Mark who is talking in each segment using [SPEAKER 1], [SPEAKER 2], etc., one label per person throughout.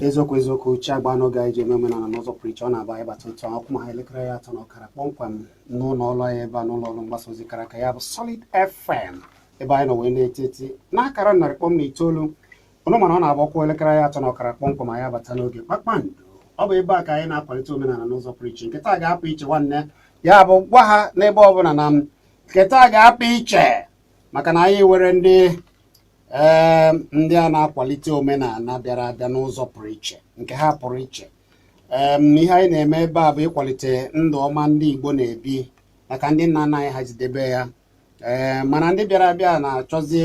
[SPEAKER 1] eziokwu eziokwu uche agba n'oge anyị ji eme omenala n'ụzọ pụrụ iche ọ na-abụ anyị bata otu a ọ kụọ ma ha elekere ya atọ na ọkara kpọmkwem n'ụlọ ọrụ anyị ebe a n'ụlọ ọrụ mgbasa ozi kara aka ya bụ Solid FM ebe anyị nọ wee na-eti eti n'akara narị kpọm na itoolu unu ma na ọ na-abụ ọ kụọ elekere ya atọ na ọkara kpọmkwem anyị abata n'oge kpakpando ọ bụ ebe a ka anyị na-akwalite omenala n'ụzọ pụrụ iche nke taa ga-apụ iche nwanne ya bụ gwa ha n'ebe ọ bụla na nke taa ga-apụ iche maka na anyị nwere ndị ee ndị a na-akwalite omenala bịara abịa n'ụzọ pụrụ iche nke ha pụrụ iche ee ihe anyị na-eme ebe a bụ ịkwalite ndụ ọma ndị Igbo na-ebi maka ndị nna nna anyị ha jidebe ya ee mana ndị bịara abịa na-achọzi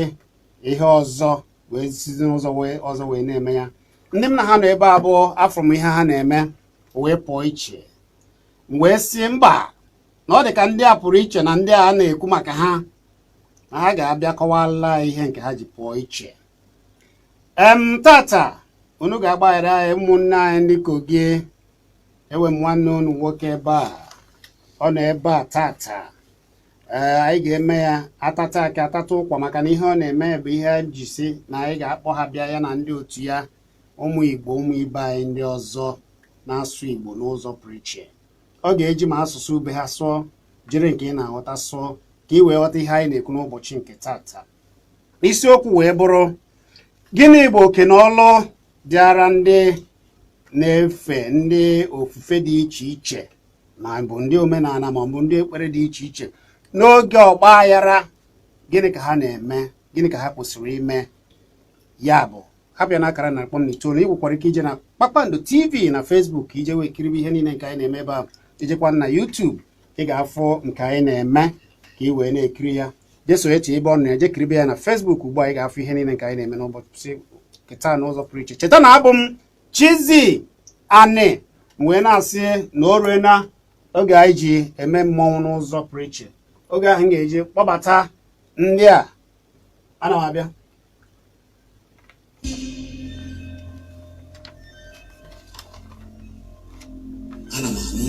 [SPEAKER 1] ihe ọzọ wee sizi n'ụzọ wee ọzọ wee na-eme ya ndị m na ha nọ ebe a bụ afụrụ m ihe ha na-eme wee pụọ iche m wee sị mba na ọ dị ka ndị a pụrụ iche na ndị a na-ekwu maka ha na ha ga-abịa kọwala ihe nke ha ji pụọ iche em tata unu ga-agbaghara anyị ụmụnne anyị ndị kogi enwe m nwanne unu nwoke ebe a ọ nọ ebe a tata ee anyị ga-eme ya atata akị atata ụkwa maka na ihe ọ na-eme bụ ihe anyị ji sị na anyị ga-akpọ ha bịa ya na ndị otu ya ụmụ igbo ụmụ ibe anyị ndị ọzọ na-asụ igbo n'ụzọ pụrụ iche ọ ga-eji ma asụsụ be ha sụọ jiri nke ị na-aghọta sụọ ka ị wee ghọta ihe anyị na-ekwu n'ụbọchị nke tata isiokwu wee bụrụ gịnị bụ oke na ọlụ dịara ndị na-efe ndị ofufe dị iche iche ma ọ bụ ndị omenala ma ọ bụ ndị ekpere dị iche iche n'oge ọgba aghara gịnị ka ha na-eme gịnị ka ha kwesịrị ime ya bụ ha pịa na akara narị kpọm na itoolu ị nwekwara ike ije na kpakpando tv na facebook ije wee kiribe ihe niile nke anyị na-eme ebe ahụ ijekwa na youtube ị ga-afụ nke anyị na-eme ka ị wee na-ekiri ya jee search ebe ọ na-eje kiribe ya na facebook ugbu a ị ga-afụ ihe niile nke anyị na-eme n'ụbọchị nke taa n'ụzọ pụrụ iche cheta na abụ m chizi anị wee na-asị na o ruena oge anyị ji eme mmọnwụ n'ụzọ pụrụ iche oge ahụ m ga-eji kpọbata ndị a ana m abịa
[SPEAKER 2] ana m anụ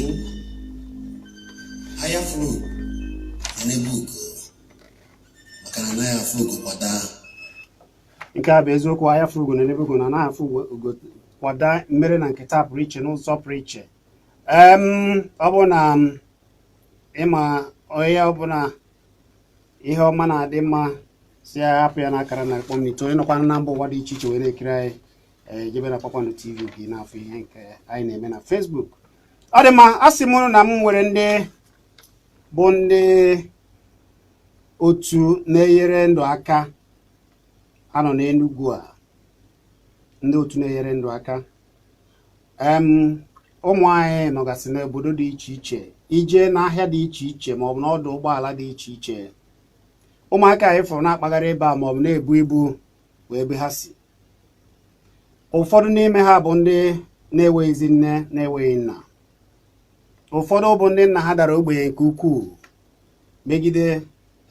[SPEAKER 2] anya fụrụ ugo na-enebe ugo maka na anaghị afụ ugo kwa
[SPEAKER 1] daa nke a bụ eziokwu anya fụrụ ugo na-enebe ugo na anaghị afụ ugo kwa daa mere na nke taa pụrụ iche n'ụzọ pụrụ iche ọ bụ na ịma onye ọbụla ihe ọma na-adị mma sị hapụ ya n'akara na kpọm n'ito onye nọkwa na mba ụwa dị iche iche wee na-ekiri anyị ee jebe na kpakpando tv gị na-afụ ihe nke anyị na-eme na facebook ọ dị mma a sị m unu na m nwere ndị bụ ndị otu na-enyere ndụ aka nọ n'enugwu a ndị otu na-enyere ndụ aka ụmụ anyị nọgasị n'obodo dị iche iche i je n'ahịa dị iche iche ma ọ bụ n'ọdụ ụgbọala dị iche iche ụmụaka anyị fụrụ na-akpagharị ebe a ma ọ bụ na-ebu ibu nwere ebe ha si ụfọdụ n'ime ha bụ ndị na-enweghịzi nne na-enweghị nna ụfọdụ bụ ndị nna ha dara ogbenye nke ukwuu megide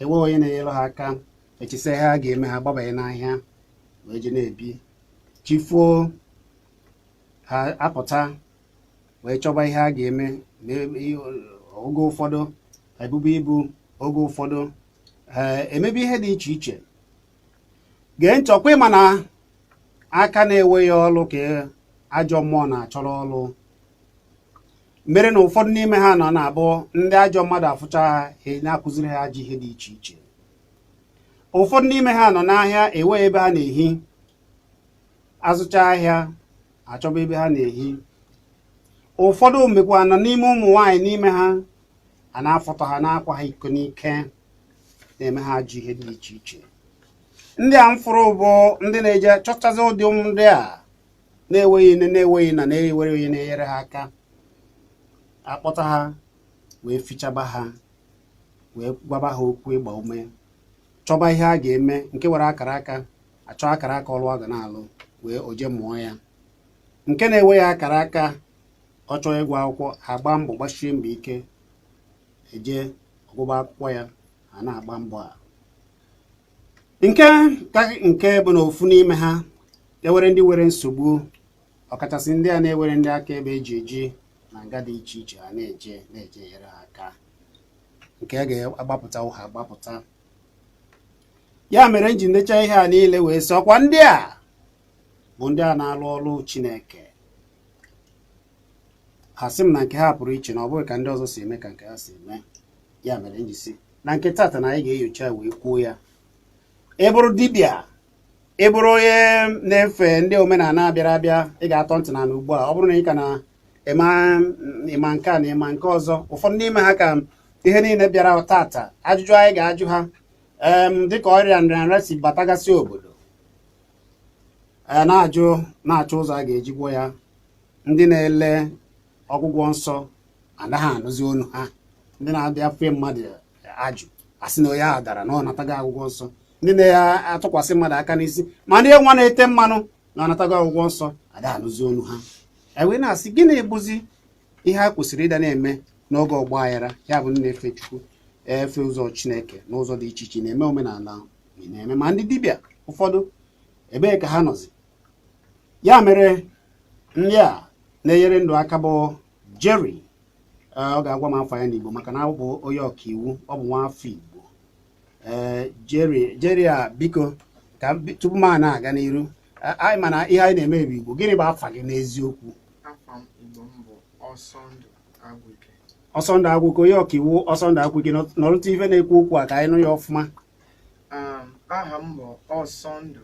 [SPEAKER 1] enweghị onye na-enyere ha aka echesịa ihe ha ga-eme ha gbabanye n'ahịa wee je na-ebi chi foo ha apụta wee chọba ihe ha ga-eme oge ụfọdụ ha ebube ibu oge ụfọdụ ha emebe ihe dị iche iche gee ntị ọkwa ị ma na aka na-enweghị ọlụ ka ajọ mmụọ na-achọrọ ọlụ mere na ụfọdụ n'ime ha na ọ na-abụ ndị ajọ mmadụ afụcha ha na-akụziri ha ajọ ihe dị iche iche ụfọdụ n'ime ha nọ n'ahịa enweghị ebe ha na-ehi azụcha ahịa achọba ebe ha na-ehi ụfọdụ mekwanụ n'ime ụmụ nwaanyị n'ime ha a na-afụta ha na-akwa ha iko n'ike na-eme ha ajọ ihe dị iche iche ndị a m fụrụ bụ ndị na-eje chọchazi ụdị ụmụ ndị a na-enweghị nne na-enweghị nna na-enweghị onye na-enyere ha aka akpọta ha wee fichaba ha wee gwaba ha okwu ịgba ume chọba ihe a ga-eme nke nwere akara aka achọ akara aka ọlụ ọ ga na-alụ wee o je mụọ ya nke na-enweghị akara aka ọ chọọ ịgụ akwụkwọ ha agba mbọ gbasie mbọ ike e je ọ gụba akwụkwọ ya ha na-agba mbọ a nke ka nke bụ na ofu n'ime ha e nwere ndị nwere nsogbu ọkachasị ndị a na-enweghị ndị akaebe e ji eji na nga dị iche iche ha na-eje na-eje nyere ha aka nke a ga-agbapụta ha agbapụta ya mere m ji ndecha ihe a niile wee sị ọkwa ndị a bụ ndị a na-alụ ọlụ Chineke ha sị m na nke ha pụrụ iche na ọ bụghị ka ndị ọzọ si eme ka nke ha si eme ya mere m ji sị na nke tata na anyị ga-enyocha wee kwuo ya ị bụrụ dibịa ị bụrụ onye na-efe ndị omenala bịara abịa ị ga-atọ ntị n'ala ugbu a ọ bụrụ na ị ka na ị ma nke a na ị ma nke ọzọ ụfọdụ n'ime ha ka ihe niile bịara tata ajụjụ anyị ga-ajụ ha em dịka ọrịa nrịanrịa si batagasị obodo a na-ajụ na-achọ ụzọ a ga-eji gwọ ya ndị na-ele ọgwụgwọ nsọ anaghị anụzi onu ha ndị na-abịa fee mmadụ ajụ asị na onye ahụ dara na ọ natago ọgwụgwọ nsọ ndị na-atụkwasị mmadụ aka n'isi ma ndị nwa na-ete mmanụ na ọ natago ọgwụgwọ nsọ ada anụzi onu ha ewee na-asị gịnị bụzi ihe a kwesịrị ịda na-eme n'oge ọgba aghara ya bụ na-efe chukwu efe ụzọ chineke n'ụzọ dị iche iche na-eme omenala na-eme ma ndị dibịa ụfọdụ ebee ka ha nọzi ya mere ndị a na-enyere ndụ aka bụ Jerry ọ ga-agwa m afa ya n'Igbo maka na ọ bụ onye ọkaiwu ọ bụ nwa afọ Igbo ee Jerry Jerry a biko ka tupu m a na-aga n'iru anyị ma na ihe anyị na-eme bụ Igbo gịnị bụ afa gị n'eziokwu
[SPEAKER 3] ọsọndụ
[SPEAKER 1] agwụike onye ọkaiwu ọsọndụ agwụike nọrụta ife na-ekwu okwu a ka anyị nụ ya ọfụma
[SPEAKER 3] aha m bụ ọsọndụ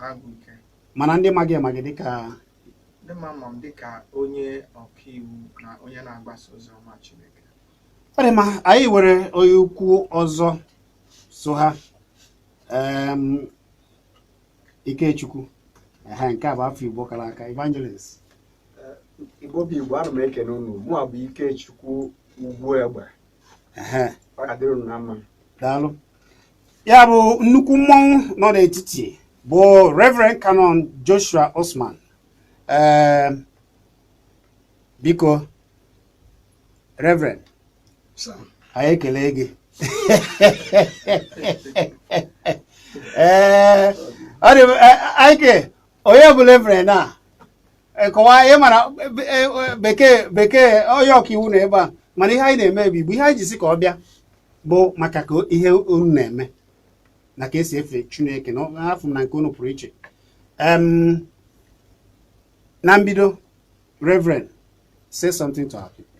[SPEAKER 3] agwụike mana ndị ma
[SPEAKER 1] gị ma gị dịka ndị ma m
[SPEAKER 3] ma m dịka onye ọkaiwu na onye na-agbasa ozi ọma Chineke ọ dị
[SPEAKER 1] mma anyị nwere onye ukwu ọzọ so ha em, Ikechukwu ehe nke a bụ afa Igbo kara aka
[SPEAKER 4] evangelist igbo bụ igbo ana m ekene unu mụ a bụ ikechukwu ugwu egbe ehe ọ ga-adịrị unu na mma daalụ
[SPEAKER 1] ya bụ nnukwu mmọnwụ nọ n'etiti bụ Reverend Canon Joshua Osman ee biko Reverend anyị ekele gị ee ọ dị aike onye bụ reverend a kọwaa ị mara bekee bekee onye ọkaiwu na ebe a mana ihe anyị na-eme bụ igbo ihe anyị ji sị ka ọ bịa bụ maka ka ihe unu na-eme na ka esi efe chineke na-afụ na nke unu pụrụ iche na mbido reverend say something to our people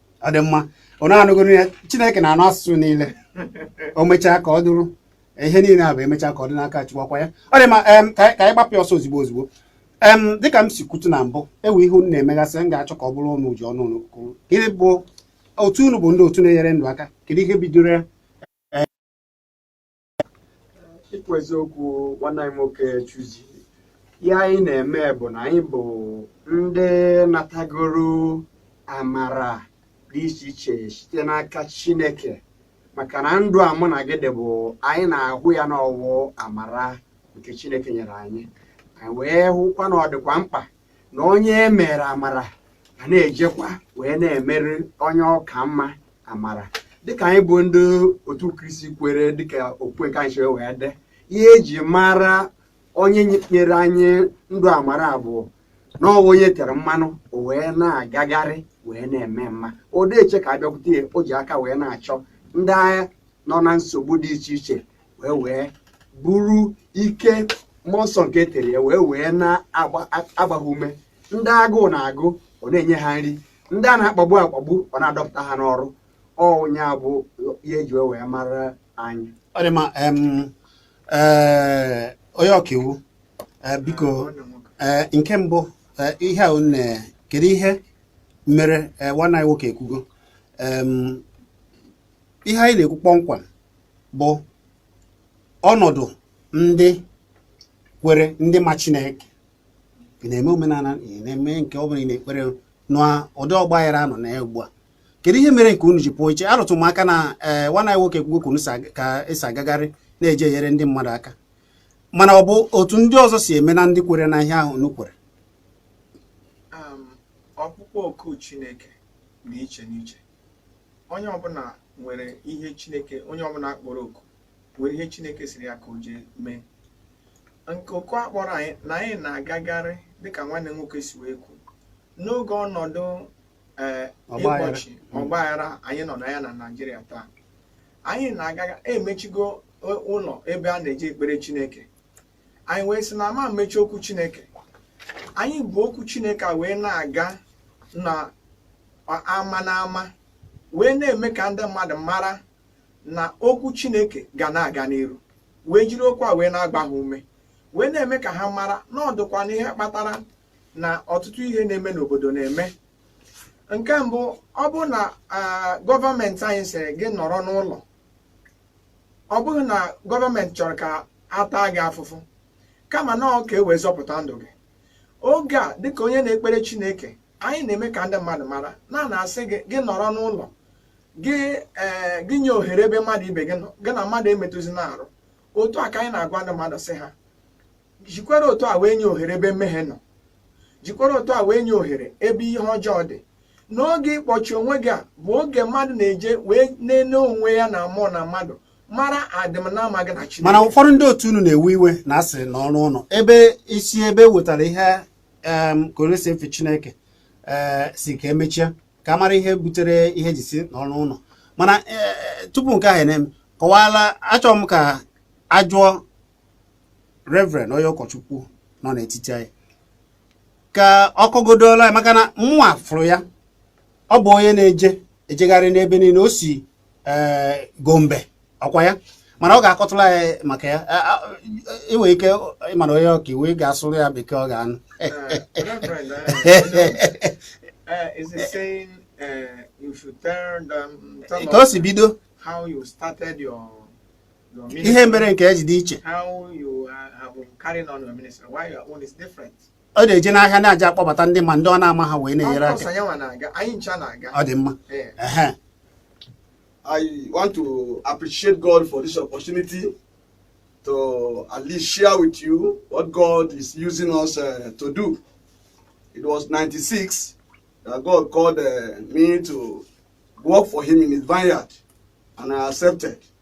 [SPEAKER 4] ọ dị
[SPEAKER 1] mma ọ na-anụgoro ya chineke na-anụ asụsụ niile o mechaa ka ọ dụrụ ihe niile a bụ emechaa ka ọ dị n'aka chukwu ọkwa ya ọ dị mma em, ka anyị ka anyị gbapụ ya ọsọ ozugbo ozugbo em dịka m si kwutu na mbụ enwe ihe unu na-emegasị m ga-achọ ka ọ bụrụ unu ji ọnụ unu kwuru gịnị bụ otu unu bụ ndị otu na-enyere ndụ aka kedu ihe bidoro ya
[SPEAKER 4] ikwu eziokwu nwanne anyị nwoke chuzi ihe anyị na-eme bụ na anyị bụ ndị natagoro amara dị iche iche site n'aka chineke maka na ndụ a mụ na gị dị bụ anyị na-ahụ ya na ọ wụ amara nke chineke nyere anyị anyị wee hụkwa na ọ dịkwa mkpa na onye e mere amara ga na-ejekwa wee na-emere onye ọ ka mma amara dịka anyị bụ ndị otu kristi kwere dịka okwukwe anyị si wee dị ihe e ji mara onye nyere anyị ndụ amara bụ na ọ bụ onye e tere mmanụ o wee na-agagharị wee na-eme mma ọ dịghị eche ka a bịakwute ya o ji aka wee na-achọ ndị ahụ nọ na nsogbu dị iche iche wee wee buru ike mmụọ nsọ nke e tere ya wee wee na-agba ha ume ndị agụụ na-agụ ọ na-enye ha nri ndị a na-akpagbu akpagbu ọ na-adọpụta ha n'ọrụ ọ nya bụ ihe e ji wee mara anyị ọ dị mma
[SPEAKER 1] eh, onye ọkaiwu eh, biko eh, nke mbụ ihe a nne kedu ihe mere nwanne anyị nwoke ekwugo ihe anyị na-ekwu kpọmkwem bụ ọnọdụ ndị kwere ndị ma Chineke ị na-eme omenala ị na-eme nke ọ bụla ị na-ekpere n'ụdị ọgba aghara a nọ na ya ugbu a kedu ihe mere nke unu ji pụọ iche arụtụ m aka na ee eh, nwanne anyị nwoke ekwugo ka unu si agagharị na-eje enyere ndị mmadụ aka mana ọ bụ otu ndị ọzọ si eme na ndị kwere na ihe ahụ unu kwere
[SPEAKER 3] ọkpụkpọ oku Chineke dị iche n'iche onye ọbụla nwere ihe chineke onye ọbụla a kpọrọ oku nwere ihe chineke sịrị ya ka o jee mee nke oku a kpọrọ anyị na anyị na-agagharị dịka nwanne nwoke si wee kwu n'oge ọnọdụ ee eh, ịkpọchi ọgbaghara anyị nọ na ya na naijiria taa anyị na-agaga e mechigo ụlọ ebe a na-eje ekpere chineke anyị wee sị na a ma emechi okwu chineke anyị buru okwu chineke a wee na-aga n'ama n'ama wee na-eme ka ndị mmadụ mara na okwu chineke ga na-aga n'iru wee jiri okwu a wee na-agba ha ume wee na-eme ka ha mara na ọ dịkwa na ihe kpatara na ọtụtụ ihe na-eme n'obodo na-eme nke mbụ ọ bụrụ na ah, gọọmenti anyị sị gị nọrọ n'ụlọ ọ bụghị na gọọmenti chọrọ ka a taa gị afụfụ kama na ọ ka e wee zọpụta ndụ gị oge a dịka onye na-ekpere chineke anyị na-eme ka ndị mmadụ mara na a na-asị gị gị nọrọ n'ụlọ gị ee gị nye ohere ebe mmadụ ibe gị nọ gị na mmadụ emetụzina arụ otu a ka anyị na-agwa ndị mmadụ sị ha jikwara otu a wee nye ohere ebe mmehie nọ jikwara otu a wee nye ohere ebe ihe ọjọọ dị n'oge ịkpọchi onwe gị a bụ oge mmadụ na-eji wee na-ene onwe ya na mmụọ na mmadụ mara adịm na mma gị na Chineke mana ụfọdụ ndị otu unu
[SPEAKER 1] na-ewe iwe na a sị nọrọ n'ụlọ ebe isi ebe e wetara ihe ka onye si efe Chineke eh, sị ka e mechie ka a mara ihe butere ihe e ji sị nọrọ n'ụlọ mana eh, tupu nke ahụ na-eme kọwaala achọrọ m ka a jụọ reverend onye ụkọchukwu nọ n'etiti anyị ka ọ kọgodola maka na mụnwa fụrụ ya ọ bụ onye na-eje ejegharị n'ebe niile o si eh, gombe ọkwa ya mana ọ ga-akọtụrụ anyị maka ya i nwee ike ị ma na onye ọka iwu ị ga-asụrụ ya bekee ọ
[SPEAKER 3] ga-anụ eh, eh, ka o si
[SPEAKER 1] bido
[SPEAKER 3] ihe mere nke ya
[SPEAKER 1] ji dị
[SPEAKER 3] iche ọ na-eje
[SPEAKER 1] n'ahịa na-eje akpọbata ndị ma ndị ọ na-ama ha wee na-enyere aka ọ dị mma eh.
[SPEAKER 5] I want to appreciate God for this opportunity to at least share with you what God is using us uh, to do. It was 96 that God called uh, me to work for Him in His vineyard, and I accepted.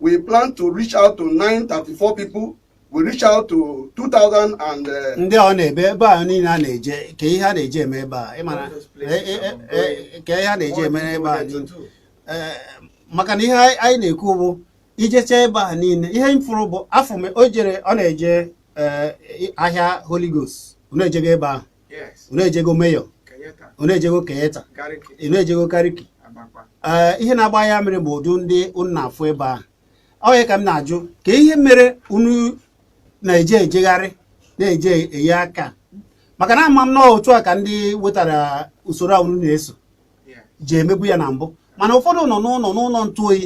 [SPEAKER 5] we plan to reach out to 934 people we reach out to 2000 and uh, ndị ọ n'ebe ebe
[SPEAKER 1] a niile a na-eje ka ihe a na-eje eme ebe a ị mara ka ihe a na-eje eme ebe a niile eh, maka na ihe anyị na-ekwu bụ ijecha ebe a niile ihe m fụrụ bụ afọ o jere ọ na-eje eh, ahịa Holy Ghost na-ejega ebe ahụ unu ejego Mayor unu ejego Kenyatta unu ejego Gariki ee ihe na-agba anya mmiri bụ ụdị ndị unu na-afụ ebe ahụ ọ ya ka m na-ajụ ka ihe mere unu na-eje ejegharị na-eje enye aka maka na ama m na otu a ka ndị wetara usoro a unu na-eso ji emegbu ya na mbụ mana ụfọdụ nọ n'ụlọ n'ụlọ ntụ oyi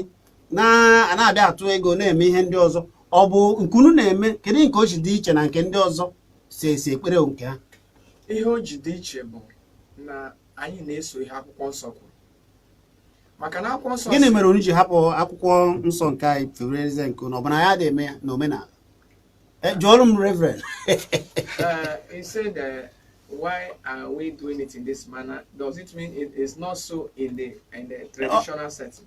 [SPEAKER 1] na-abịa atụ ego na-eme ihe ndị ọzọ ọ bụ nke unu na-eme kedu nke o ji dị iche na nke ndị ọzọ si esi ekpere nke ha ihe o
[SPEAKER 3] ji dị iche bụ na anyị na-eso ihe akwụkwọ nsọ kwuru maka na akwụkwọ nsọ gịnị mere unu ji hapụ
[SPEAKER 1] akwụkwọ nsọ nke anyị fewere eze nke unu ọ bụ na adị eme ya na omenala e, jụọrụ m
[SPEAKER 3] reverend uh, why are we doing it in this manner? Does it mean it is not so in the in the traditional setting?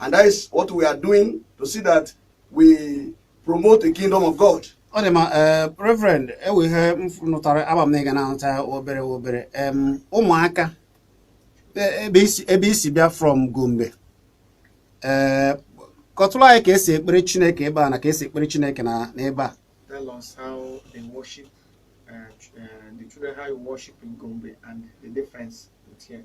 [SPEAKER 5] And that is what we are doing to see that we promote the kingdom of God. ọ dị mma
[SPEAKER 1] eh, reverend e nwe ihe m nụtara ama m na ị ga na-anụta obere obere Em, ụmụaka e- ebe i si- ebe i si bịa from gombe ee kọtụrụ anyị ka e si ekpere chineke ebe a na ka e si ekpere chineke na n'ebe a Tell us how they worship, uh,
[SPEAKER 3] ch- uh, the children, how you worship in Gombe and the difference with here.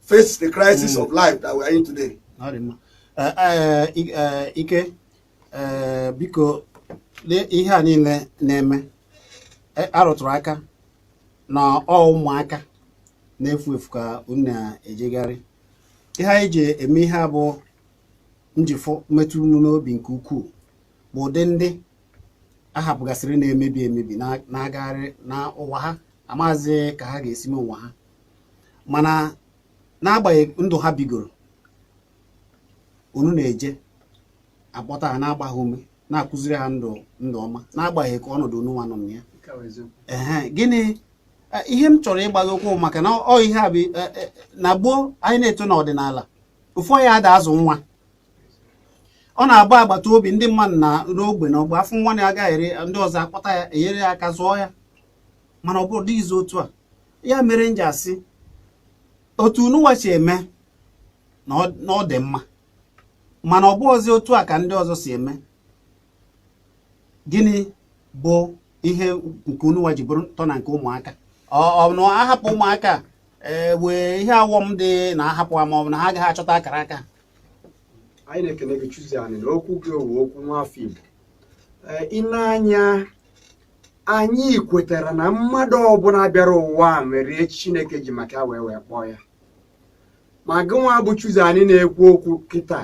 [SPEAKER 5] face the crisis mm. of life that we are in today. Eh, eh,
[SPEAKER 1] eh, Ike biko ihe a niile na-eme arụtụrụ aka na ọ ụmụaka na-efu efu ka unu na-ejegharị ihe anyị ji eme ihe a bụ njifụ metụ unu n'obi nke ukwuu bụ ụdị ndị a hapụgasịrị na-emebi emebi na-agagharị na ụwa ha amaghịzị ka ha ga-esi mee ụwa ha mana n'agbanyeghị ndụ ha bigoro unu na-eje akpọta ha na-agba ha ume na-akụziri ha ndụ ndụ ọma n'agbanyeghị ka ọnọdụ unu nwa nọ na ya ehe gịnị e, ihe m chọrọ ịgbado ụkwụ maka na ọ ihe a bụ e, e, na gboo anyị na-eto n'ọdịnala ofu onye ada azụ nwa ọ na-abụ agbata obi ndị mmadụ nọ n'ogbe n'ogbe a fụ nwa na-agagharị ndị ọzọ akpọta ya enyere ya aka zụọ ya mana obodo adịghịzi otu a ya mere m ji asị otu ununwa si eme na ọ dị mma mana ọ bụrọzi otu a ka ndị ọzọ si eme gịnị bụ ihe nke ununwa ji bụrụ ntọ na nke ụmụaka ọ na ahapụ ụmụaka e, nwee ihe ọghọm dị na ahapụ ha ma ọ bụ na ha agaghị achọta akara aka anyị
[SPEAKER 4] na-ekele gị Chuzo anyị na okwu gị ọ wụ okwu nwafọ Igbo e, i nee anya anyị kwetara na mmadụ ọbụla bịara ụwa a nwere ihe chineke ji maka ya wee wee kpọọ ya ma gịnwa bụ chuzo anyị na-ekwu okwu kịta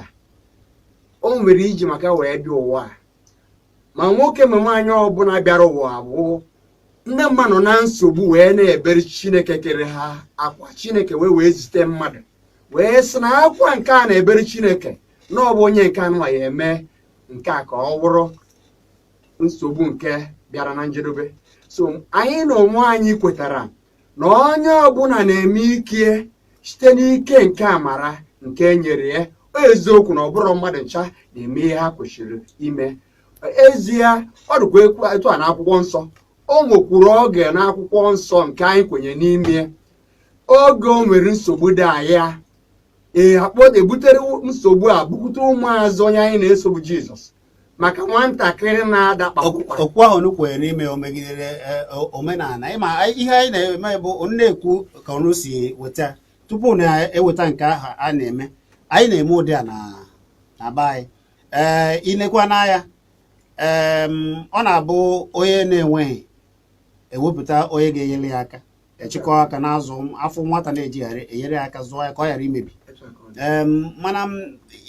[SPEAKER 4] o nwere ihe i ji maka ya wee bịa ụwa a ma nwoke ma nwaanyị ọbụla bịara ụwa a bụ ndị mmadụ nọ na nsogbu wee na-ebere chineke kere ha akwa chineke wee wee zite mmadụ wee sị na akwa nke a na-ebere chineke na ọ bụ onye nke a nụwa ya-eme nke a ka ọ bụrụ nsogbu nke bịara na njedebe so anyị na onwe anyị kwetara na onye ọbụla na-eme ike ya site n'ike nke amara nke e nyere ya eziokwu na ọ bụrọ mmadụ ncha na-eme ihe ha kwesịrị ime ezie ọ dịkwa etu a n'akwụkwọ nsọ o nwekwuru oge n'akwụkwọ nsọ nke anyị kwenye n'ime oge o nwere nsogbu dị anya ee akpọ ebutere nsogbu a bukwute ụmụazụ onye anyị na-eso bụ jizọs maka nwatakịrị na-ada kpakpụkwa okwu ahụ unu kwenyere n'ime
[SPEAKER 1] o megidere eh, o- omenala ịma anyị- ihe anyị na-eme bụ unu na-ekwu ka unu si weta tupu unu eweta nke ahụ a na-eme anyị na-eme ụdị a na na be anyị ee i nekwanụ anya em, ọ na-abụ onye na-enweghị ewepụta onye ga-enyere ya aka ejikọ aka na-azụ a fụ nwata na-ejegharị enyere ya aka zụọ ya ka ọ ghara imebi Em, mana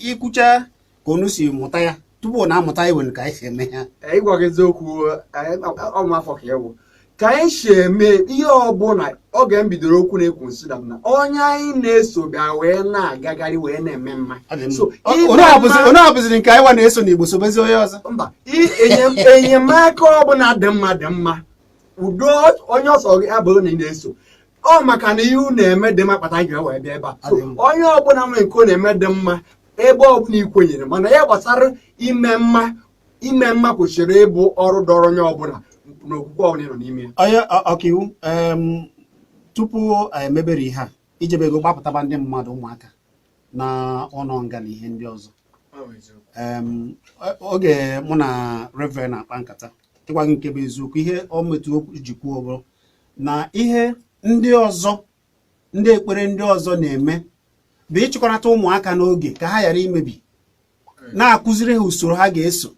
[SPEAKER 1] i kwucha ka unu si mụta ya tupu na amụta iwe ka anyị si eme ya ịgwa gị
[SPEAKER 4] eziokwu ọnwa afọ ka ewu ka anyị si eme ihe ọbụla oge m bidoro okwu na-ekwu m sị na na onye anyị na-eso bịa wee na-agagharị wee na-eme mma
[SPEAKER 1] anyị hapụziri nke anyị wa na-eso na igbo sobezi onye
[SPEAKER 4] ọzọ mba enyemaka ọbụla dị mma dị mma udo onye ọ sọ gị abụrụ na ị na-eso ọ maka na ihe unu na-eme dị mma kpata m ji wee bịa ebe a onye ọbụla nwere nke ọ na-eme dị mma ebe ọbụla ị kwenyere mana ya gbasara ime mma ime mma kwesịrị ịbụ ọrụ dịrị onye ọbụla n'okwukwe ọbụla ị nọ n'ime ya onye ọkaiwu
[SPEAKER 1] tupu anyị emebere ihe a ijebe ego gbapụtaba ndị mmadụ ụmụaka na ụlọ nga na ihe ndị ọzọ oge mụ na reverend na-akpa nkata ịgwa gị nke bụ eziokwu ihe ọ metụ okwu ji kwuo bụrụ na ihe ndị ọzọ ndị ekpere ndị ọzọ na-eme bụ ịchịkọnata ụmụaka n'oge ka ha ghara imebi na-akụziri ha usoro ha ga-eso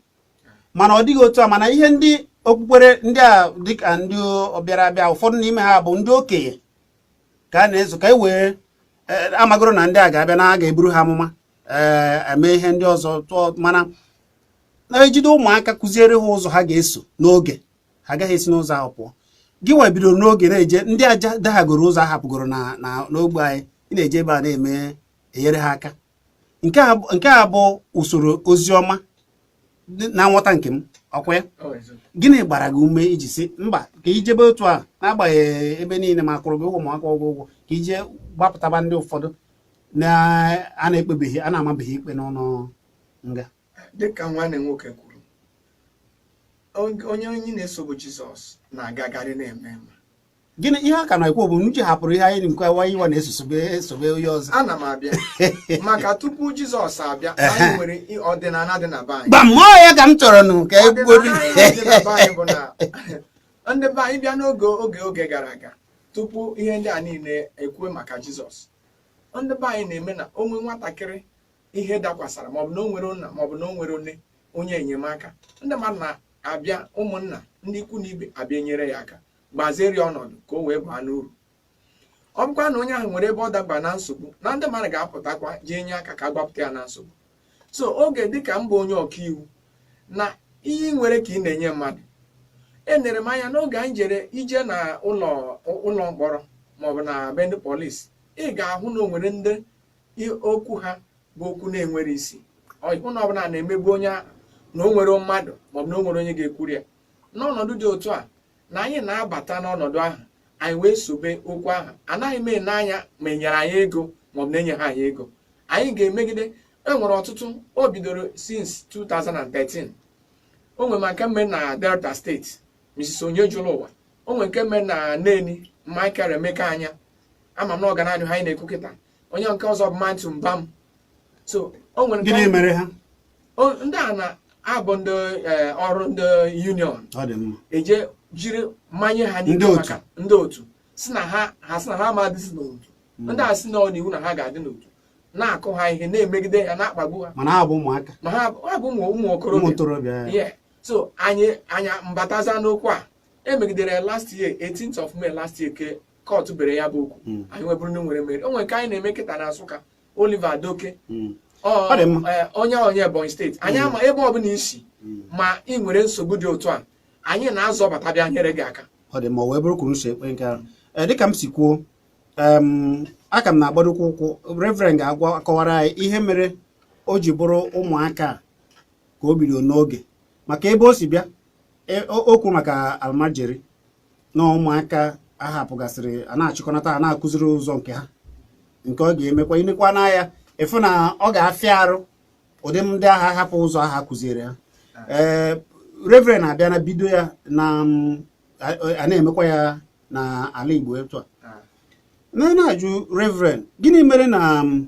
[SPEAKER 1] mana ọ dịghị otu a mana ihe ndị okpukpere ndị a dịka ndị ọbịara abịa ụfọdụ n'ime ha bụ ndị okenye ka a na-eso ka e wee e, a magoro na ndị a ga-abịa na a ga-eburu ha amụma ee eme ihe ndị ọzọ tụọ mana na e jide ụmụaka kụziere ha ụzọ ha ga-eso n'oge ha agaghị esi n'ụzọ ahụ pụọ gị nwa bidoro n'oge na-eje ndị aja daghagoro ụzọ a hapụgoro n'ogbe anyị ị na-eje ebe a na-eme enyere ha aka nke a bụ usoro ozi ọma na nghọta nke m ọkwa ya oh, gịnị gbara gị ume i ji sị mba ka i jebe otu a n'agbanyeghị ebe niile ma a kwụrụ gị ụgwọ ma akwụrọ gị ụgwọ ka i jee gbapụtaba ndị ụfọdụ na a na-ekpebeghị a na-amabeghị ikpe n'ụnọ nga dịka
[SPEAKER 3] nwanne nwoke kwuru onye onye anyị na-eso bụ jizọs na-agagharị na-eme mma gịnị ihe a ka
[SPEAKER 1] na-ekwu bụ uche hapụrụ ihe anyị nke wa anyị wa na-eso sobe esobe onye ọzọ ana m abịa
[SPEAKER 3] maka tupu jizọs abịa anyị nwere i- ọdịnala dị na be anyị gbam ọ ya ka m
[SPEAKER 1] chọrọ ịnụ ka e kwuo ọdịnala anyị dị na be anyị bụ
[SPEAKER 3] na ndị be anyị bịa n'oge oge oge gara aga tupu ihe ndị a niile ekwue maka jizọs ndị be anyị na-eme na o nwee nwatakịrị ihe dakwasara maọbụ na o nwerọ nna maọbụ na o nwerọ onye onye enyemaka ndị mmadụ na-abịa ụmụnna ndị ikwu na ibe abịa nyere ya aka gbaziere ya ọnọdụ ka o wee baa n'uru ọ bụkwa na onye ahụ nwere ebe ọ daba na nsogbu na ndị mmadụ ga-apụtakwa jee nye aka ka a gbapụta ya na nsogbu so oge dịka m bụ onye ọkaiwu na ihe i nwere ka ị na-enye mmadụ enere m anya n'oge anyị jere ije na ụlọ ụlọ mkpọrọ maọbụ na be ndị polisi ị ga-ahụ na o nwere ndị okwu ha bụ okwu na-enwere isi hụ na ọ bụ na a na-emegbu onye ahụ na o nwere mmadụ maọbụ na o nwere onye ga-ekwuru ya n'ọnọdụ dị otu a na anyị na-abata n'ọnọdụ ahụ anyị wee sobe okwu ahụ anaghị m ene anya ma e nyere anyị ego maọbụ na enyehọ anyị ego anyị ga-emegide e nwere ọtụtụ o bidoro since 2013 o nwere ma nke m me na delta steeti mrs onyejụlụwa o nwere nke m me na neni michael emeka anya ama m na ọ ga na-anụ ihe anyị na-ekwu kịta onye nke ọzọ bụ matthew mbam so o nwere nke gịnị ọ- mere
[SPEAKER 1] ha o- ndị
[SPEAKER 3] a na-abụ ndị eh, ọrụ ndị union ọ dị mma eje jiri manye ha Ndị n'ike otu. maka ndị otu sị na ha ha sị na ha ma adịzi n'otu ndị a sị na ọ n'iwu na ha ga-adị n'otu na-akụ ha ihe na-emegide ha na-akpagbu ha mana ha bụ ụmụaka ma
[SPEAKER 1] ha ha bụ ụmụ ụmụ
[SPEAKER 3] ụmụ okorobịa ntorobịa ya. yeah so anyị anyị mbataza n'okwu a e megidere ya last year 18th of May last year ka kọtụ bere ya bụ okwu hmm. anyị wee bụrụ na e nwere mmeri o nwere nke anyị na-eme kịta na Nsụka Oliver Adoke hmm. e, onye onye Ebonyi steeti anyị hmm. ama ebe ọ bụla i si ma ị nwere nsogbu dị otu a anyị na-azọbata bịa nyere gị aka ọ dị mma ọ wee bụrụ kwuru
[SPEAKER 1] nso ekpere nke ahụ e, dịka m si kwuo a ka m na-agbadokwu ụkwụ reverend ga-agwa akọwara anyị ihe mere o ji bụrụ ụmụaka ka o bido n'oge maka ebe o si bịa e, okwu maka almajiri na ụmụaka a hapụgasịrị a na-achịkọnata a na-akụziri ụzọ nke ha nke ọ ga-emekwa i nekwa n'anya ị fụ na ọ ga-afịa arụ ụdị ndị ahụ ahapụ ụzọ ahụ a kụziere ha ee reverend abịa na bido ya na mm, a- a na-emekwa ya na ala igbo etu a na na-ajụ reverend gịnị mere na mm,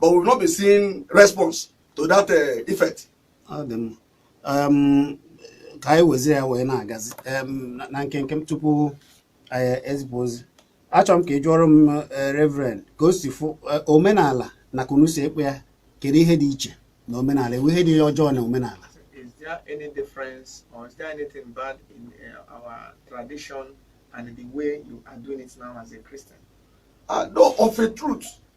[SPEAKER 5] but we've not been seeing response to that uh, effect.
[SPEAKER 1] Um, ka anyị wezie ya wee na-agazi um, na nkenke m tupu anyị uh, ezipụ ozi achọrọ m ka ị jụọrọ m uh, reverend ka o si fụ uh, omenala na ka unu si ekpe ya kedu ihe dị iche na omenala e nwe ihe dị ọjọọ na omenala is there
[SPEAKER 3] any difference or is there anything bad in uh, our tradition and the way you are doing it now as a Christian? Uh, no,
[SPEAKER 5] of a truth,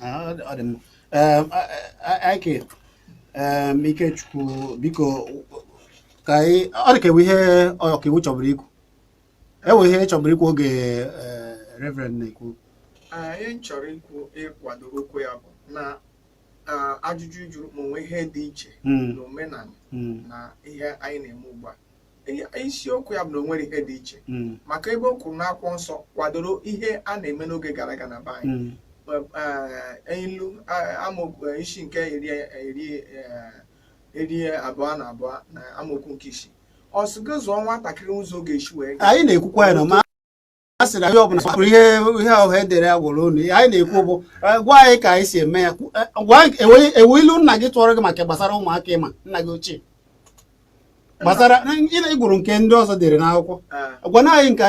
[SPEAKER 5] Ah, ọ dị mma. Em, a- a- a-
[SPEAKER 1] Ike em, Ikechukwu biko ka anyị ọ dị ka e nwe ihe ọkaiwu chọburu ikwu e nwe ihe ị chọburu ikwu oge eh, reverend na-ekwu ihe m
[SPEAKER 3] chọrọ ikwu ịkwado okwu ya bụ na ah, ajụjụ ị jụrụ ma o nwe ihe dị iche Mm, na omenala mm, na ihe anyị na-eme ugbu a isiokwu ya bụ na o nwere ihe dị iche mm. maka ebe o kwuru n'akwụkwọ nsọ kwadoro ihe a na-eme n'oge gara aga na be anyị mm. eh, ilu amaokwu eh, isi nke iri eh, abụọ na abụọ na amaokwu nke isii ọ sị gị zụọ nwatakịrị ụzọ ọ ga-esi wee anyị na-ekwukwa ya na
[SPEAKER 1] a sị na ihe ọbụla bụrụ ihe ihe ọha edere ya gwụrụ unu anyị na-ekwu bụ eh, gwa anyị ka anyị si eme ya eh, ewu ilu nna gị tụọrọ gị maka gbasara ụmụaka ịma nna gị ochie gbasara ịgụrụ nke ndị ọzọ dere n'akwụkwọ ah. gwa na anyị ka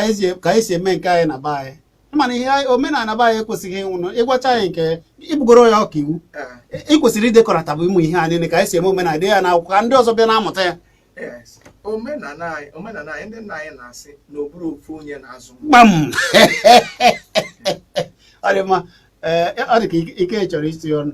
[SPEAKER 1] anyị si eme nke anyị na be anyị mana ihe omenala be anyị ekwesịghị ịnwụnụ ịgwacha anyị nke ịbụgoro ya ọkaiwu ah. ị kwesịrị idekọrọta bụ ụmụ ihe a niile ka anyị si eme omenala dee ya n'akwụkwọ ka ndị ọzọ bịa na-amụta ya
[SPEAKER 3] Yes. omenala anyị omenala anyị ndị nna anyị na-asị na ọ bụrọ ofu onye na-azụ nwa.
[SPEAKER 1] gbam ọ dị mma ee ọ dị ka ike- ike chọrọ isi ọnụ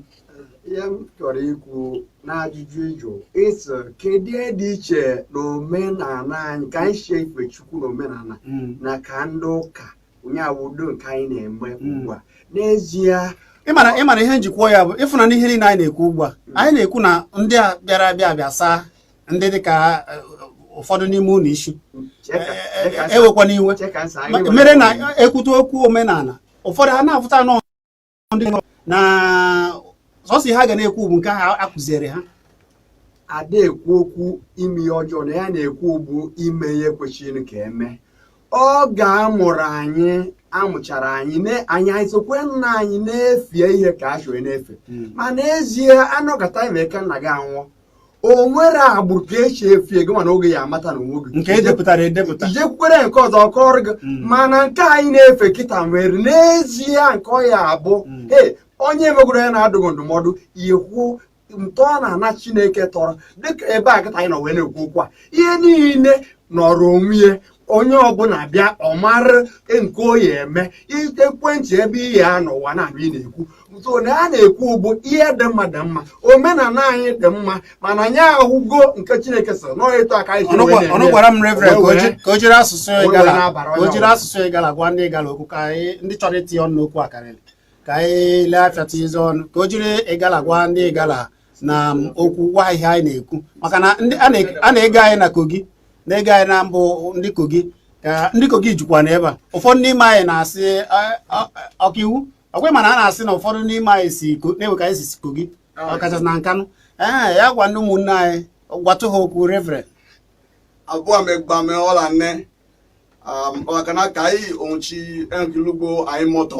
[SPEAKER 1] ihe m
[SPEAKER 4] chọrọ ikwu n'ajụjụ ị jụ ị sị kedu ihe dị iche na omenala anyị ka anyị si efe chukwu na omenala Mm. na ka ndị ụka nya wụ ụdị nke anyị na-eme Mm. ugbu a n'ezie ị mara ị
[SPEAKER 1] mara ihe m ji kwuo ya bụ ị fụ na ihe niile anyị na-ekwu ugbu a anyị na-ekwu na ndị a bịara abịa bịa saa ndị dịka uh, ụfọdụ n'ime unu isi ewekwana iwe mere na e kwute okwu omenala ụfọdụ ha na-afụta anọ ndị na sọsọ ihe ha ga na-ekwu bụ nke a kụziere ha
[SPEAKER 4] ada ekwu okwu ime ihe ọjọọ na ya na-ekwu bụ ime ihe kwesịrị ka e mee oge a mụrụ anyị a mụchara anyị anyị anyị sokwa nna anyị na-efie ihe ka e si na-efe hmm. ma n'ezie a nọkata ime ka nna gị anwụọ o nwere agbụrụ ka e si efie gị mana oge ya amata na o nweghị nke e depụtara
[SPEAKER 1] edepụta ijekwukwere nke ọzọ
[SPEAKER 4] kọrọ gị mm. mana nke anyị na-efe kịta nwere n'ezie nke ọ ya-abụ mm. ee onye megodu ya na-adụ gị ndụmọdụ ị hụ ntọ n'ana chineke tọrọ dịka ebe a kịta anyị nọ wee na-ekwu okwu a ihe niile nọrọ onwe ya onye ọbụla bịa ọ mara nke ọ ya-eme ekwentị ebe ihe a n'ụwa na-abụ ị na-ekwu so na a na-ekwu bụ ihe dị mma dị mma omenala anyị dị mma mana anyị ahụgo nke chineke sịrị na ịtụ aka anyị jiri wee na-eme ọnụ gwara m
[SPEAKER 1] reverend ka o ji- ka o jiri asụsụ Wee ịgala na-abara ka o onye jiri ọbụla. asụsụ ịgala gwa ndị ịgala okwu ka anyị ndị chọrọ itinye ọnụ n'okwu a karịrị ka anyị lee afịa tinye ọnụ ka o jiri ịgala gwa ndị ịgala na okwu gwa ihe anyị na-ekwu maka na a na-ege anyị na Kogi na-ege anyị na mbụ ndị Kogi ndị Kogi jukwa n'ebe a ụfọdụ n'ime anyị na-asị ọkaiwu ọ kwa ị ma na a na-asị na ụfọdụ n'ime anyị si na-ewe ka anyị si Kogi ọkachasị na Nkanụ ee ya gwa ndị ụmụnne anyị gwatụ ha okwu reverend abụọ
[SPEAKER 5] megbame ọla nne um, ọkana ka anyị onwuchi enkilugbo anyị mọtọ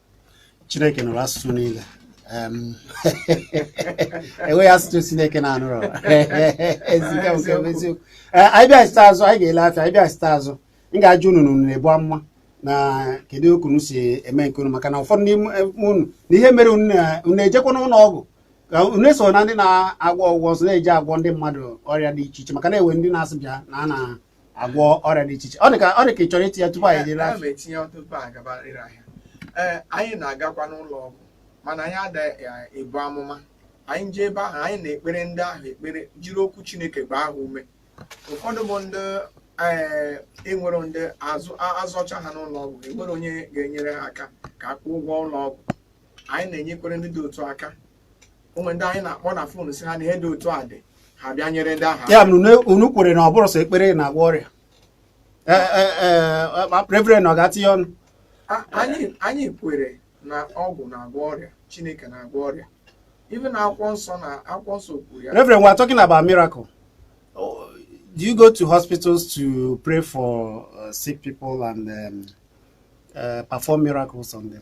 [SPEAKER 1] Chineke nụrụ asụsụ niile enweghị asụsụ Chineke na-anụrọ eziokwu anyị bịachite azụ anyị ga-ele afịa anyị bịachite azụ m ga-ajụ unu na unu na-ebu amụma na kedu otu unu si eme nke unu maka na ụfọdụ n'ime unu na ihe mere unu na-ejekwa n'ụlọ ọgwụ unu eso na ndị na-agwọ ọgwụgwọ ọzọ na-eji agwọ ndị mmadụ ọrịa dị iche iche maka na e nwe ndị na-asị bịa na a na agwọ ọrịa dị iche iche ọ dị ka ọ dị ka ị chọrọ itinye tupu anyị ejere ahịa etinye tupu anyị gaba ire
[SPEAKER 3] ahịa ee anyị na-agakwa n'ụlọ ọgwụ mana anyị ada ebu amụma anyị jee ebe ahụ anyị na-ekpere ndị ahụ ekpere jiri okwu Chineke gbaa ha ume ụfọdụ bụ ndị ee enwere ndị azọcha ha n'ụlọ ọgwụ enwerọ onye ga-enyere ha aka ka a kwụọ ụgwọ ụlọ ọgwụ anyị na-enyekwere ndị dị otu a aka o nwere ndị anyị na-akpọ na fon sị ha na ihe dị otu a dị ha bịa nyere ndị ahụ ya bụ na unu kwere
[SPEAKER 1] na ọ bụrọ sọ ekpere na-agwọ ọrịa e, e, e, reverend ọ ga-atinye ọnụ
[SPEAKER 3] anyị kwere na ọgwụ na-agwọ ọrịa chineke na-agwọ ọrịa even akwụkwọ nsọ na akwụkwọ nsọ kwuru ya reverend we are talking about
[SPEAKER 1] miracle do you go to hospitals to pray for uh, sick people and um, uh, perform miracles on them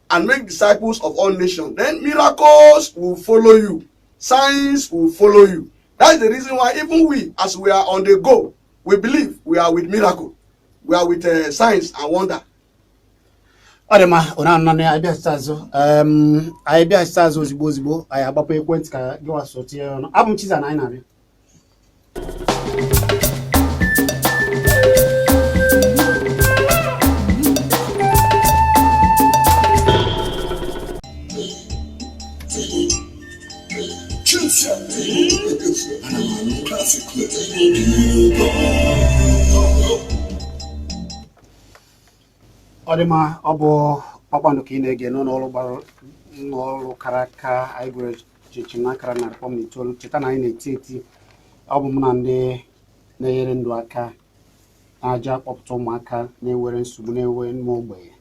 [SPEAKER 5] and make disciples of all nations then miracles will follow you signs will follow you that is the reason why even we as we are on the go we believe we are with miracle we are with uh, signs and
[SPEAKER 1] wonder ọ dị mma unu anụna anyị bịachite azụ Em, anyị bịachite azụ ozigbo ozigbo anyị agbapụ ekwentị ka gịwa so tinye ọnụ abụ m chiza na anyị na-abịa ọ dị mma ọ bụ kpakpando ka ị na-ege n'ụlọ ọrụ gbara ụlọ ọrụ kara aka anyị kwụrụ chịm chịm n'akara narị kpọm na itoolu cheta na anyị na-eti eti ọ bụ mụ na ndị na-enyere ndụ aka na-eje akpọpụta ụmụaka nwere nsogbu na-ewe ụmụ ogbenye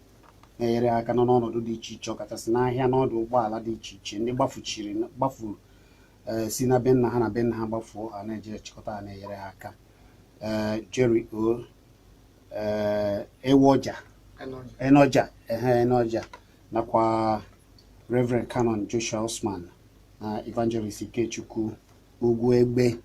[SPEAKER 1] na-enyere aka nọ n'ọnọdụ dị iche iche ọkachasị n'ahịa n'ọdụ ụgbọala dị iche iche ndị gbafuchiri gbafuru eh, si na be nna ha na be nna ha gbafuo a na-eje chịkọta ha na-enyere ha aka eh, Jerry O eh, Ewoja Onoja ehe Onoja nakwa Reverend Canon Joshua Usman na Evangelist Ikechukwu Ugwu Egbe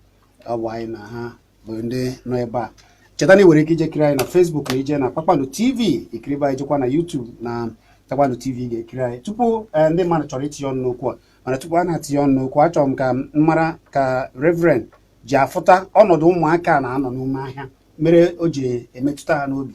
[SPEAKER 1] ọ bụ anyị na ha bụ ndị nọ ebe a cheta na ị nwere ike ije kiri anyị na Facebook na i jee na Kpakpando TV i kiribe anyị jekwa na YouTube na Kpakpando TV ga-ekiri anyị tupu eh, ndị mmadụ chọrọ itinye ọnụ n'okwu a mana tupu a na-atinye ọnụ n'okwu achọrọ m ka m mara ka Reverend ji afụta ọnọdụ ụmụaka a na-anọ n'ime ahịa mere o ji emetụta ha n'obi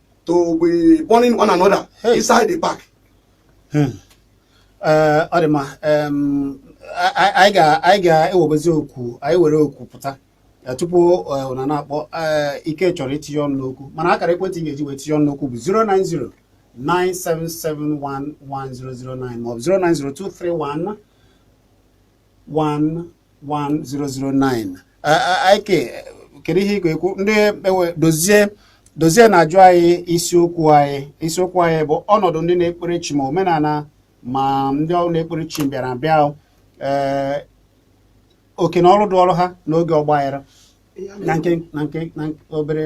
[SPEAKER 5] to be burning one another hey. inside the park. Hmm.
[SPEAKER 1] Eh, ọ dị mma anyị ga-ewebezi okwu anyị were okwu pụta eh, tupu eh, unu na-akpọ ike chọrọ itinye ọnụ n'okwu mana akara ekwentị ị ga-eji wee tinye ọnụ n'okwu bụ 090 97711009 maọbụ 090 231 11009 ike kedu ihe ị ga-ekwu ndị e dozie dozie na-ajụ anyị isiokwu anyị isiokwu anyị bụ ọnọdụ ndị na-ekpere chi ma omenala ma ndị ọrụ na-ekpere chi bịara abịa ee eh, oke na ọrụ dịịrị ha n'oge ọgbaghara na nke obere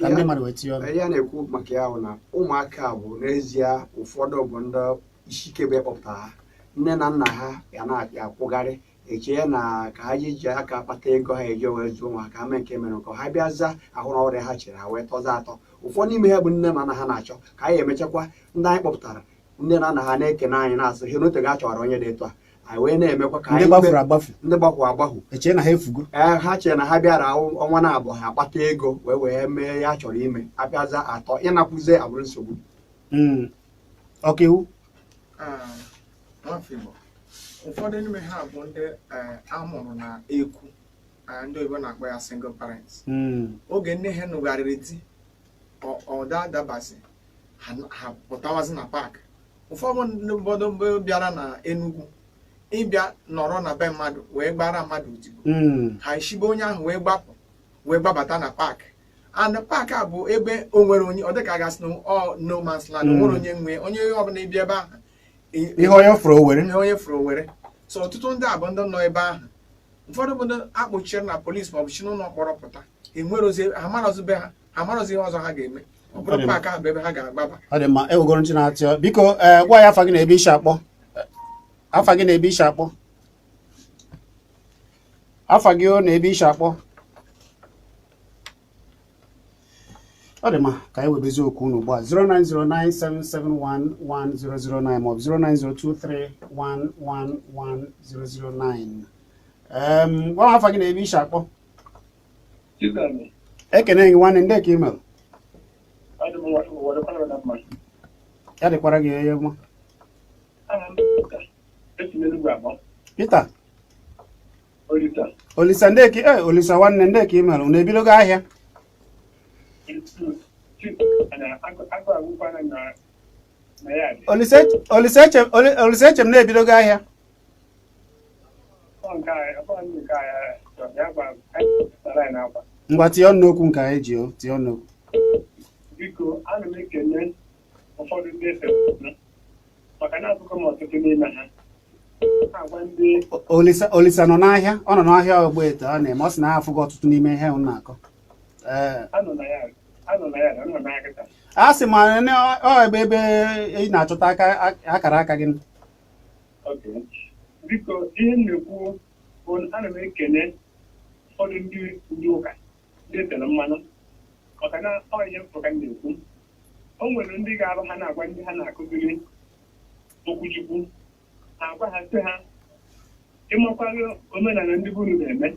[SPEAKER 1] ka ndị mmadụ wee tinye ọnụ ihe a na-ekwu maka ya
[SPEAKER 4] bụ na ụmụaka a bụ n'ezie ụfọdụ bụ ndị isi ike be kpọpụta ha nne na nna ha ya na-akwụgharị echee na ka ha ji ji aka kpata ego ha eji wee zụọ onwe ha mee nke mere nke ha bịaza hụ na ọ bụrọ ihe ha chere ha wee tọza atọ ụfọdụ n'ime ha bụ nne na nna ha na-achọ ka anyị emechakwa ndị anyị kpọpụtara nne na nna ha na-ekene anyị na-asị ha na o teego a chọrọ onye dị etu a anyị wee na-emekwa ka anyị ndị gbafuru agbafu e chee na ha efugo
[SPEAKER 1] ha chee na ha bịara
[SPEAKER 4] ọnwa na abụọ ha akpata ego wee wee mee ihe ha chọrọ ime ha bịaza atọ ịnakwuzi abụrụ nsogbu hmm.
[SPEAKER 3] ọkaiwu ah, ụfọdụ n'ime ha bụ ndị eh, a mụrụ na ekwu ah, ndị oyibo na-akpọ ya single parents hmm. oge nne ha nụgharịrị di ọ da adabazi ha pụtawazi na paakị ụfọdụ bụ ndị bịara na Enugu ịbịa nọrọ na be mmadụ wee gbara mmadụ odibo hmm. ha eshi be onye ahụ wee gbapụ wee gbabata na paakị and paakị a bụ ebe o nwerọ onye ọ dịka a ga-asị no man's land o nwerọ hmm. onye nwe onye ọbụla ịbịa ebe ahụ ihe
[SPEAKER 1] onye fụrụ o were ihe onye fụrụ o
[SPEAKER 3] were so ọtụtụ ndị a bụ ndị nọ ebe ahụ ụfọdụ bụ ndị a kpọchiri na polisi maọbụ shi n'ụlọ mkpọrọ pụta enwerozi ha amarọzi be ha ha amarọzi ihe ọzọ ha ga-eme ọ bụrụ paakị ahụ bụ ebe ha ga-agbaba ọ dị mma ewegoro
[SPEAKER 1] ntị na-atịọ biko ee gwa anyị afa gị na ebe i si akpọ afa gị na ebe i si akpọ afa gị o na ebe i si akpọ ọ dị mma ka anyị webezi okwu unu ugbu a 09097711009 maọbụ 09023111009 em gwa m afa gị na ebe i si akpọ Chizani, ekene gị nwanne ndị ka ị mere adị m nwa- were kwara na mma. ya dịkwara gị ihe mma Aha m bụ Peter. Esi m Enugu akpọ. Peter olisa ndị ka eh, olisa nwanne ndị ka ị mere unu ebidogo ahịa olisa eche m na e bidogo ahịa ngwa tinye ọnụ n'okwu nke anyị ji o tinye ọnụ n'okwu
[SPEAKER 6] ụfọdụ ndị efe maka na afụgo m ọtụtụ n'ime ha olisa nọ
[SPEAKER 1] n'ahịa ọ nọ n'ahịa Ogbete ọ na-eme ọ sị na ya afụgo ọtụtụ n'ime ihe m na-akọ
[SPEAKER 6] a sị
[SPEAKER 1] ma ọ ebe ebe ị na-achọta akara aka gị
[SPEAKER 6] biko ihe m na-ekwu bụ ana m ekene ụfọdụ ndị ụka etere mmanụ maka na ọ ihe m fụ ka m na-ekwu o nwere ndị ga-abụ ha na-agwa ndị ha na-akụziri okwuchukwu ha agwa ha sị ha ị makwaghị omenala ndị be unu na-eme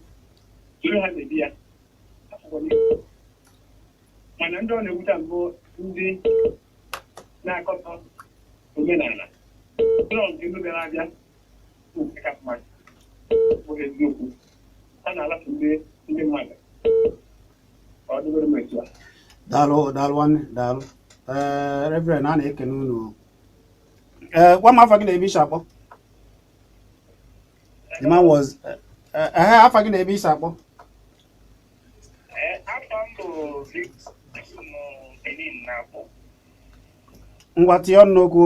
[SPEAKER 6] soro ha mebe ya Afụkwa m ya. mana ndị ọ na-ewute m bụ ndị na-akọtọ omenala na ọ nke ndị bịara abịa daalụ daalụ
[SPEAKER 1] nwanne daalụ ee reverend a na-ekene unu ee gwa m afa gị na ebe i si akpọ the man was ehe afa gị na ebe i si akpọ ngwa tinye ọnụ n'okwu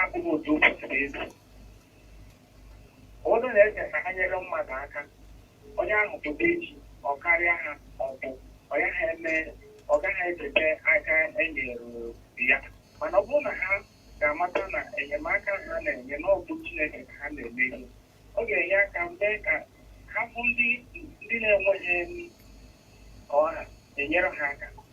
[SPEAKER 6] abụghị otu o kwesịrị ịdị ụfọdụ na-eche na ha nyere mmadụ aka onye ahụ pụta echi ọ karịa ha ọ bụ ọ gaghị eme ọ gaghị echeta aka enyere ya mana ọ bụrụ na ha ga-amata na enyemaka ha na-enye na ọ bụ Chineke ka ha na-eme ihe ọ ga-enye aka mee ka ha fụ ndị ndị na-enweghị ha enyere ha aka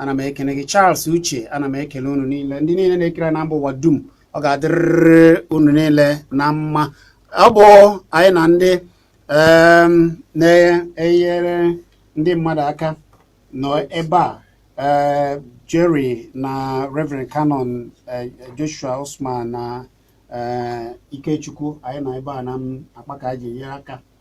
[SPEAKER 1] ana m ekene gị Charles Uche ana m ekele unu niile ndị niile na-ekiri anyị na mba ụwa dum ọ ga-adịrịrị unu niile na mma ọ bụ anyị na ndị na-enyere ndị mmadụ aka nọ ebe a eh, Jerry na Reverend Canon eh, Joshua Osman na eh, Ikechukwu anyị nọ ebe a na-akpa ka anyị ji nyere aka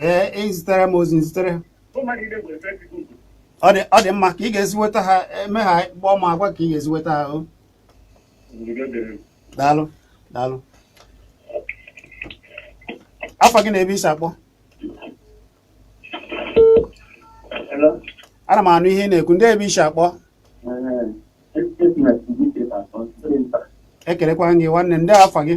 [SPEAKER 1] ee i zitere m ozi m zitere ọ dị mma ka ị ga-esi nweta ha emechaa kpọọ m agwa ka ị ga-esi nweta ha daalụ daalụ afa gị na ebe i si akpọ ana m anụ ihe ị na-ekwu ndee ebe i si akpọ ekelekwa m gị nwanne ndee afa gị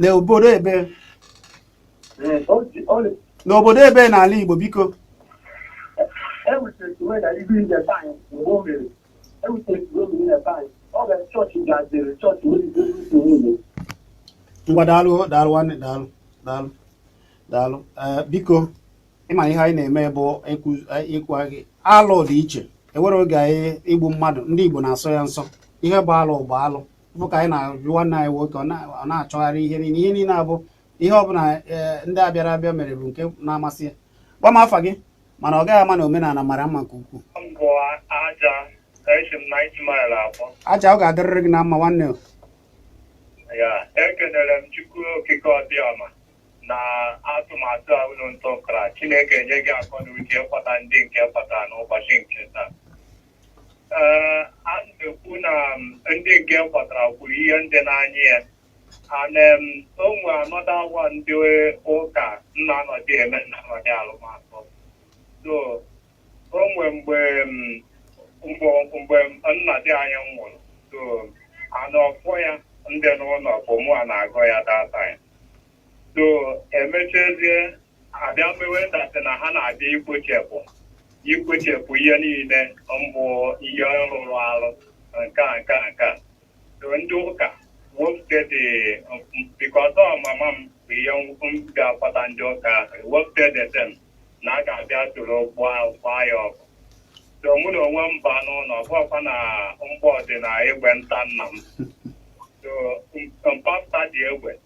[SPEAKER 1] n'obodo ebe n'obodo ebe n'ala Igbo biko ngwa daalụ daalụ nwanne daalụ daalụ daalụ eh, biko ịma ihe anyị na-eme bụ ịkwa gị alụ dị iche e nwere oge anyị igbu mmadụ ndị Igbo na-asọ ya nsọ ihe bụ alụ bụ alụ bụ ka anyị na-ajụ nwanne anyị nwoke ọ na-achọgharị ihe niile ihe niile abụ ihe ọ bụla e, ndị abịara abịa mere bụ nke na-amasị ya gwa m afa gị mana ọ gaghị ama na omenala mara mma nke ukwuu aja ọ ga-adịrịrị gị na mma nwanne
[SPEAKER 6] ekenere m Chukwu Okike Abịama na atụmatụ a unu ntọkara Chineke nye gị akọ na uche ịkpọta ndị nke ị kpọtara n'ụbọchị nke taa Ee, a na-ekwu na m, ndị nke ị kpọtara kwuru ihe ndị na-anya ya and um, o nwe another agwa ndị ụka na-anọdị eme na-anọdị alụmatụ so o nwe mgbe m, mgbe mgbe nna di anyị nwụrụ so ana ọfọ ya ndị n'ụlọ bụ mụwa na-agọ ya data ya so e mechazie abịa mewe date na ha na-abịa ikpochepụ ikpochepụ ihe niile mbụ ihe rụrụ arụ nke a nke a nke a so ndị ụka wepụta date bikọta ọmama m bụ ihe m ga-akwata ndị ụka ahụ wepụta date na a ga-abịa soro gbaa gbaa ya ọkụ so mụ na onwe m ba n'ụlọ ọ bụkwa na mgbọ dị na egbe nta nna m so mpasta dị egbe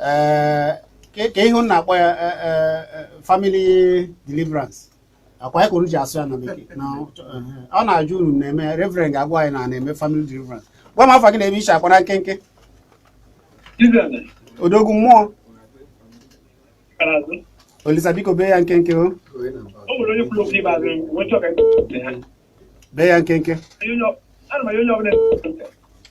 [SPEAKER 1] ee ka ka ihe unu na-akpọ ya eh, eh, eh, family deliverance ọ kwa ya ka unu ji asụ ya na bekee na eh, ọ na-ajụ unu na-eme reverend ga-agwa anyị na a na-eme family deliverance gwa m afa gị na ebe i shi akpọ na nkenke Izere, odogwu mmụọ Karazu, olisa biko bee ya nkenke o o nwere
[SPEAKER 7] onye kwuru okwu ikpeazụ e wee chọọ ka anyị kwupụta ya.
[SPEAKER 1] bee ya nkenke Onye onye ọ- ana m anya
[SPEAKER 7] onye ọbụla na-ege ntị.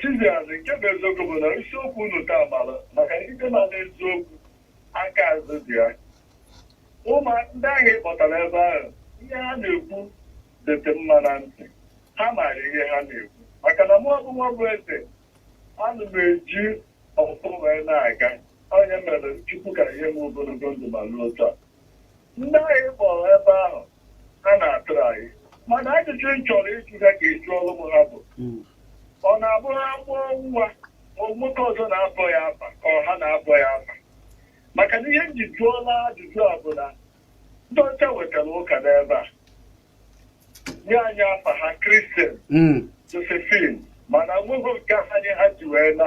[SPEAKER 6] Chizzy nke bụ eziokwu bụ na isiokwu unu taa mara maka ikpe ma n'eziokwu aka azụ dị ya ụmụ ndị ahụ ị kpọtara ebe ahụ ihe ha na-ekwu dịtị mma na ntị ha maara ihe ha na-ekwu maka na mụ bụ Nwabụeze ana m eji ọfọ wee na-aga ọ ya mere chukwu ka nye m ogologo ndụ ma ruo taa Ndị ahụ kpọrọ ebe ahụ ha na-atụrụ anyị mana ajụjụ m chọrọ ịjụ ha ka e jụọrụ m ha bụ ọ na-abụ ha mụọ nwa ọ nwoke ọzọ na-abọ ya afa ka ọ ha na-abọ ya afa maka na ihe m ji jụọla ajụjụ a bụ na ndị ọcha wetara ụka n'ebe a nye anyị afa ha kristian Mm. josephine mana nweghị nke anyị ha ji wee na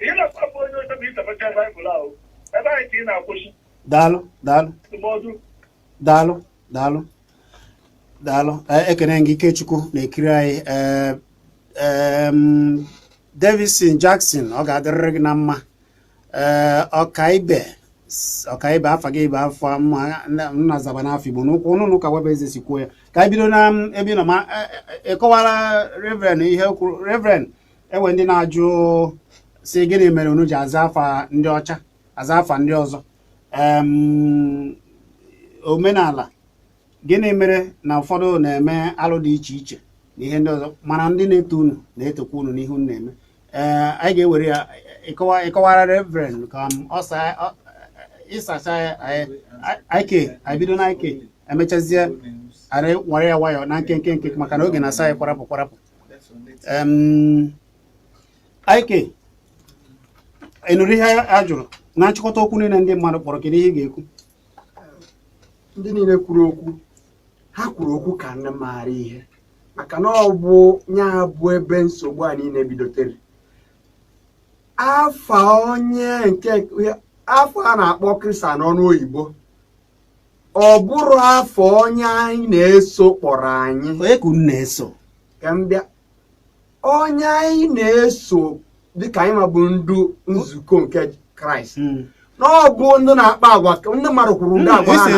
[SPEAKER 6] Ihe na-akpa bụ onye ọzọ bụ ịtapacha Baịbụl ahụ. Ebe anyị ka ị na-akwụsị daalụ daalụ
[SPEAKER 1] ndụmọdụ daalụ daalụ daalụ Ee, ekene gị ikechukwu na-ekiri anyị Ee, em, davison jackson ọ ga-adịrịrị gị na mma Ee, ọkaibe s- ọkaibe afa gị bụ afa ọma nna- nna zabanụ afa igbo nụkwanụ ka nwabueze si kwuo ya ka anyị bido na m, ebe ị nọ ma e- e- ịkọwara reverend ihe o kwuru reverend enwe ndị na-ajụ si gịnị mere unu ji aza afa ndị ọcha aza afa ndị ọzọ omenala gịnị mere na ụfọdụ na-eme alụ dị iche iche na ihe ndị ọzọ mana ndị na-eto unu na-etokwa unu n'ihe unu na-eme ee eh, anyị ga-ewere ya ịkọwara reverend ka ịsacha ya ike anyị bido na ike emechazie anyị ewere ya nwayọọ na nkenke nke maka na oge na-asị anyị kwarapụ kwarapụ ike ị nụrụ ihe a jụrụ na nchịkọta okwu niile ndị mmadụ kpọrọ kedu ihe ị ga-ekwu
[SPEAKER 4] ndị niile kwuru okwu ha kwuru okwu ka ndị maara ihe maka na ọ bụ nya bụ ebe nsogbu a niile bidotere afa onye nke afa a na-akpọ kristian n'ọnụ oyibo ọ bụrọ afa onye anyị na-eso kpọrọ anyị onye ka unu
[SPEAKER 1] na-eso ka m bịa
[SPEAKER 4] onye anyị na-eso dịka anyị nwa bụ ndị nzukọ nke kraịst hmm. na ọ bụ ndị na-akpa agwa ndị mmadụ kwuru ndị agwa ha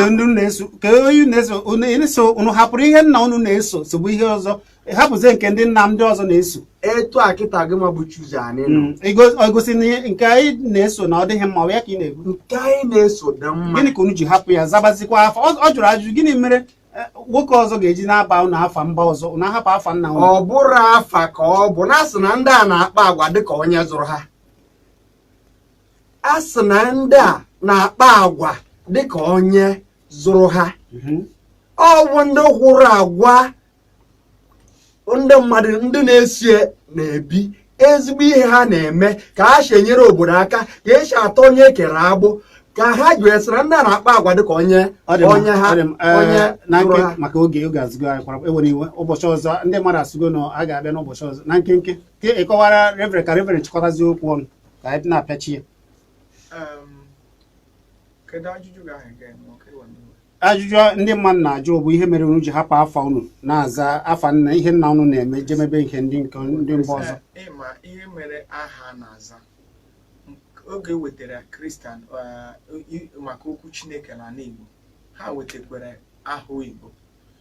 [SPEAKER 4] na-eso unu hapụrụ ihe nna unu na-eso sobe ihe ọzọ ị hapụzie nke ndị nna ndị ọzọ na-eso etu a kịta gị nwa bụ chuzi anyị nọ Mm, igo- ọ gosi na ihe- nke anyị na-eso na ọ dịghị mma ọ ya ka ị na-ekwu nke anyị na-eso dị mma gịnị ka unu ji hapụ ya zabazikwa afa ọ ọ jụrụ ajụjụ gịnị mere eh, nwoke ọzọ ga-eji na-aba unu afa mba ọzọ unu ahapụ afa nna unu ọ bụrọ afa ka ọ bụ na a sị na ndị a na-akpa agwa dịka onye zụrụ ha a sị na ndị a na-akpa agwa dịka onye zụrụ ha Mhm. ọ bụ ndị hụrụ agwa ndị mmadụ ndị na-esie na-ebi ezigbo ihe ha na-eme ka ha si enyere obodo aka ka esi atọ onye ekere agbụ ka ha ji esere ndị a na-akpa agwa dịka onye onye ha onye eh, na nke maka oge oge ezugo anyị kwara enwere iwe ụbọchị ọzọ ndị mmadụ asụgo na a ga-abịa n'ụbọchị ọzọ na nkenke ka ịkọwara reverend ka reverend chịkọtazi okwu ọnụ ka anyị na-apịachi ya
[SPEAKER 1] ajụjụ ndị mmadụ na-ajụ bụ ihe mere unu ji hapụ afa unu na-aza afa nna ihe nna unu na-eme je mebe ihe ndị nke ndị mba ọzọ ịma ihe mere
[SPEAKER 3] aha na-aza oge e wetara kristian maka okwu chineke na ala igbo ha wetakwara aha oyibo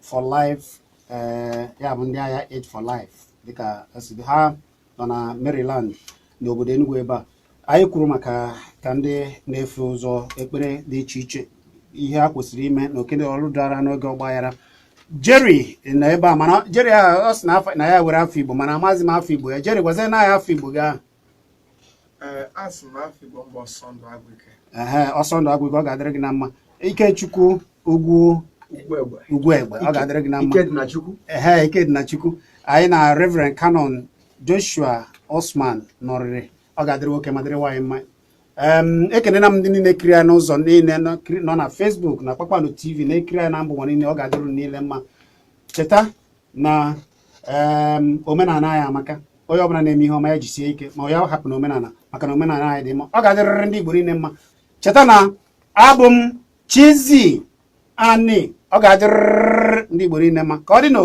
[SPEAKER 1] for life eh, ya bụ ndị aha Aid for life dịka esi ha nọ na Maryland n'obodo Enugu ebe a anyị kwuru maka ka ndị na-efe ụzọ ekpere dị iche iche ihe ha kwesịrị ime na oke na ọrụ dara n'oge ọgbaghara Jerry nọ ebe a mana Jerry a ọ sị na afa- na ya nwere afa Igbo mana amaghịzi m afa Igbo ya Jerry gwazie anyị afa Igbo gị ahụ
[SPEAKER 3] ehe ọsọ ndụ
[SPEAKER 1] agwụ ike ọ ga-adịrị gị na mma ikechukwu ugwu ugwu egbe ọ ga-adịrị gị na mma ehe ike dị na chukwu anyị na reverend canon joshua osman nọrịrị ọ ga-adịrị nwoke ma dịrị nwaanyị mma ekenena m ndị niile na-ekiri anyị n'ụzọ niile nọ na facebook na kpakpando tv na-ekiri anyị na mba ụwa niile ọ ga-adịrị unu niile mma cheta na omenala anyị amaka onye ọbụla na-eme ihe ọma ya jisie ike ma ya hapụna omenala maka na omenala anyị dị mma ọ ga-adịrịrị ndị Igbo niile mma cheta na abụ m Chizzy Ani ọ ga-adịrịrị ndị Igbo niile mma ka ọ dị n'o